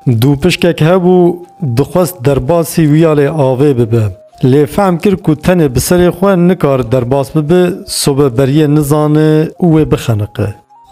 Dû pişkek hebû dixwest derbasî wiya lê avê bibe. Lê fehm kir ku tenê bi serê xwe nikar derbas bibe sobe beriyê nizane û wê bixeniqe.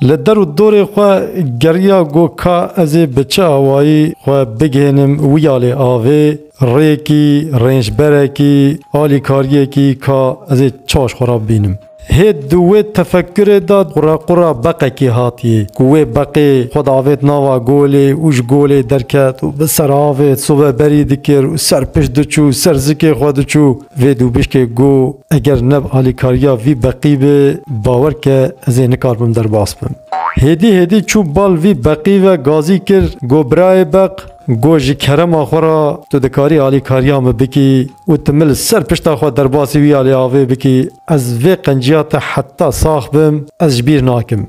Li der û dorê xwe geriya go ka ez ê bi çi awayî xwe bigihênim wiya lê avê, rêkî, rênçberekî, alîkariyekî ka ez ê çaş xwe re bibînim. Hê di wê tefekkirê de qurequra beqekê hatiye ku wê beqê xwe davêt nava golê û ji golê derket û bi ser avê sobe berî dikir û ser pişt diçû ser zikê xwe diçû. Vê dûbişkê got, Eger neb alîkariya vî beqî be, bawer ke ez ê nikaribim derbas bim. Hêdî hêdî çû bal vî beqî ve gazî kir, got, Birayê beq, got ji kerema xwe re tu dikarî alîkariya min bikî. Û tu min li ser pişta xwe derbasî wî ya lê avê bikî, ez vê qenciya te heta sax bim ez ji bîr nakim.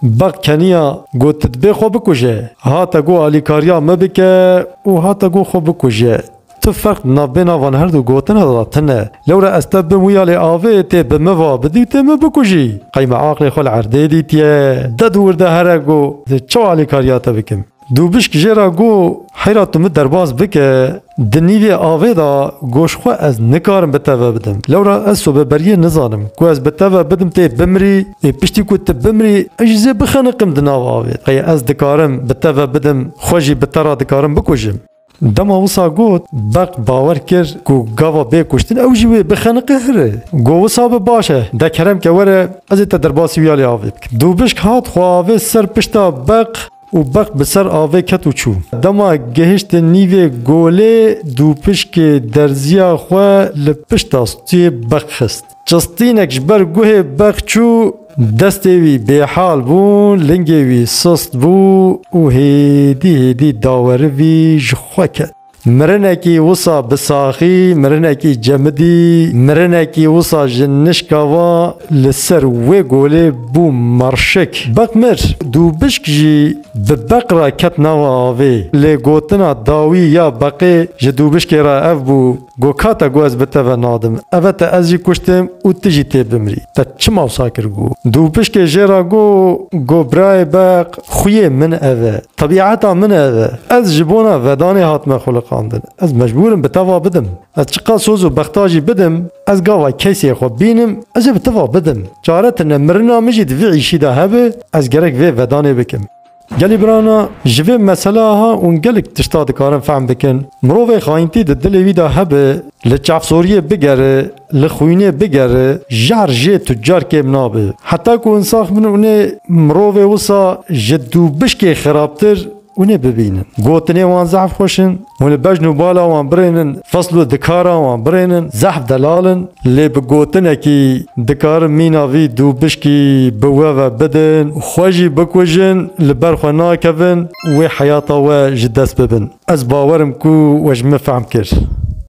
Beq keniya got tu dibê xwe bikuje, hate got alîkariya me bike û hate got xwe bikuje. Tu ferq di navbêna van herdu gotina de tune. Lewre ez te bim wî ya lê avê tê bi min va bidî û tê min bikujî. Qey me aqlê xwe li erdê dîtiye. Ded û wirde here got çawa alîkariya te bikim. Dûbişk jê re got, Heyra tu min derbas bike, di nîvê avê de goş xwe ez nikarim bi teve bidim. Lewra ez sobeberiyê nizanim. Ku ez bi teve bidim tê bimrî, ê piştî ku tu bimrî ez jî zê bixeniqim di nav avê de. Qey ez dikarim bi teve bidim, xwe jî bi te re dikarim bikujim. Dema wisa got, beq bawer kir ku gava bê kuştin, ew jî wê bixeniqe hirê. Got wisa be baş e, de kerem ke were ez ê te derbasî wîya lê avê bikim. Dûbişk hat xwe avê ser pişta beq û beq bi ser avê ket û çû. Dema gehiştin nîvê golê, dûpişkê derzîya xwe li pişta stûyê beq xist. Çistînek ji ber guhê beq çû, destê wî bêhal bû, lingê wî sust bû û hêdî hêdî dawerivî ji xwe ket. Mirinekî wisa bi saxî, mirinekî cemidî, mirinekî wisa ji nişka va li ser wê golê bû merşik. Beq mir. Du bişk jî bi beq re ket nava avê. Lê gotina dawî ya beqê ji dû bişkê re ev bû. Got, Kata ku ez bi te ve nadim, ev e te ez jî kuştim û tu jî tê bimrî. Te çima wisa kir? Got, Dûpişkê jê re got, Got, Birayê beq, xwiyê min ev e. Tebîeta min ev e. Ez ji bona vedanê hatime xwiliqandin. Ez mecbûr im bi te va bidim. Ez çiqas soz û bexta jî bidim, ez gava kesê xwe bînim, ez ê bi te va bidim. Çare tune, mirina min jî di vî îşî de hebe, ez gerek vê vedanê bikim. Gelê Birana ji vê mesela ha ûn gelek tişta dikarin fehm bikin. Mirovê xayintî di dilê wî de hebe, li çavsoriyê bigere, li xwînê bigere, jar jê tu car kêm nabe. Heta ku însax bin û nê mirovê wisa ji dûbişkê xirabtir û nê bibînin. Gotinê wan zehf xweş in. Hûn li bejn û bala wan birênin, fisl û dikara wan birênin, zehf delal in, lê bi gotinekî dikarin mîna vî dû bişkî bi we ve bidin û xwe jî bikujin, li ber xwe nakevin wê heyata we ji dest bibin. Ez bawer im ku we ji min fehm kir.